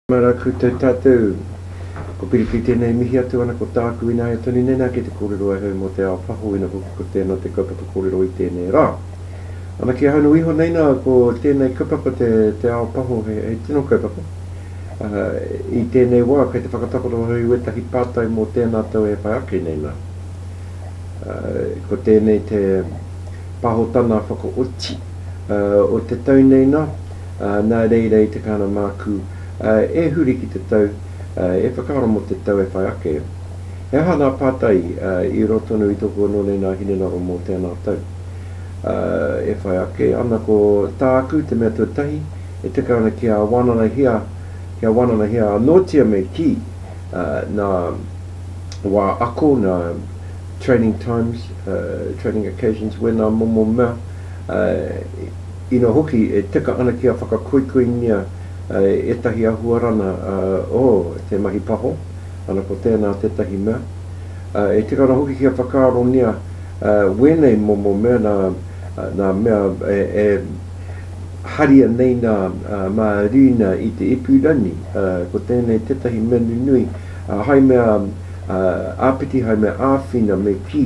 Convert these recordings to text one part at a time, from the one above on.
Mara koutou tatou. Ko Piripi tenei mihi atu ana ko taaku inaia tonu nei na kei te korero ai hau mo te ao paho ina hoki ko teena te kaupapa korero i tenei ra. Ana kia haunui iho nei na ko tenei kaupapa te te ao paho he he tino kaupapa. I tenei wa kei te whakatakoto hau i wetahi patai mo teena tau e whai ake nei na. Ko tēnei te pahotana whakaoti o te tau nei nā, nā reira i te kāna mākū e huri ki te tau, e whakaaro mō te tau e whai ake. He aha nā pātai i roa tonu i tōku anō nei nā hinengaro mō tēnā tau e whai ake ana ko tāku te mea tuatahi e tika ana kia wānanahia, kia wānanahia anōtia me kī nā. wā ako, nā training times, training occasions, wēnā momo mea, ina hoki e teka ana kia whakakoikoingia ētahi ahuarana o te mahi paho, ana ko tēnā tētahi mea. E teka ana hoki kia whakaarongia wēnei momo mea nā nā mea e haria nei nā Mārīna i te ipurangi, ko tēnei tētahi mea nunui, hai mea āpiti, hai mea āwhina me kī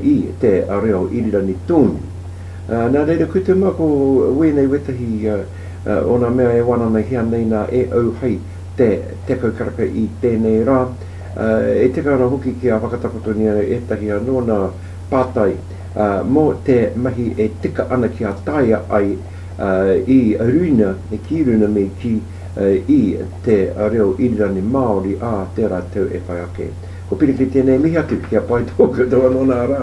i te reo irirangi tōnu. Nā reira, kua tū māku wēnei wētahi o nā mea e wana ana hea nei nā e au hai te tekau karaka i tēnei rā, e tika ana hoki kia whakatakotonia ētahi anō nā pātai mō te mahi e tika ana kia taea ai i runa, ki runa me kī. i te reo irirangi Māori ā tērā tau e whai ake. Ko Piriki tēnei mihi atu, kia pai tō koutou anō nā rā.